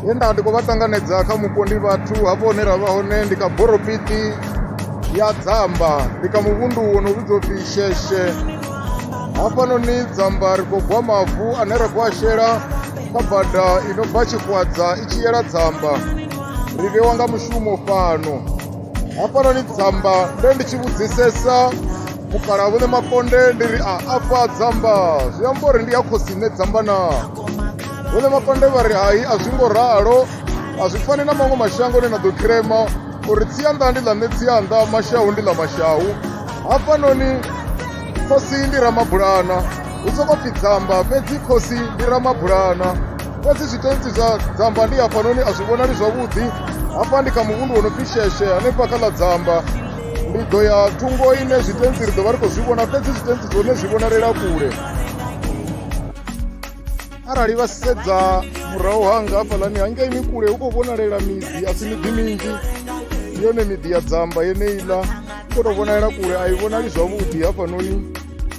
he nda ndi khou vha ṱanganedza kha mupo ndi vhathu hafho hune ra vha hone ndi kha boropiti ya dzamba ndi kha muvhundu wo no vhidzwa upfhi sheshe hafhanoni dzamba ri khou gwa mavu ane ra khou a shela kha bada i no bva tshikwadza i tshi yela dzamba ri vhewa nga mushumo fhano hafhanoni dzamba nde ndi tshi vhudzisesa mukala vhune makonde ndi ri a afha dzamba zwi amba uri ndi ya khosi nṋe dzamba na vhune makonde vha ri hai a zwi ngo ralo a zwi fani na maṅwe mashango ni na ḓo khirema uri tsianḓa ndi ḽa nṋe tsianḓa mashahu ndi ḽa mashahu hafhanoni khosi ndi ramabulana hu sokou pfi dzamba fhedzi khosi ndi ramabulana fhedzi zwitentsi zwa dzamba ndi hafhanoni a zwi vhonali zwavhuḓi hafha ndi kha muvhundu wo no pfi sheshe hanefha kha ḽa dzamba ndi ḓo ya thungo ine zwitentsi ri ḓo vha ri khou zwi vhona fhedzi zwitentsi zwone zwi vhonalela kule arali vha sedza murahu hanga hafhaḽani hangeini kule hu khou vhonalela miḓi a si miḓi minzhi yone miḓi ya dzamba yeneiḽa u khou tou vhonalela kule a i vhonali zwavhuḓi hafhanoni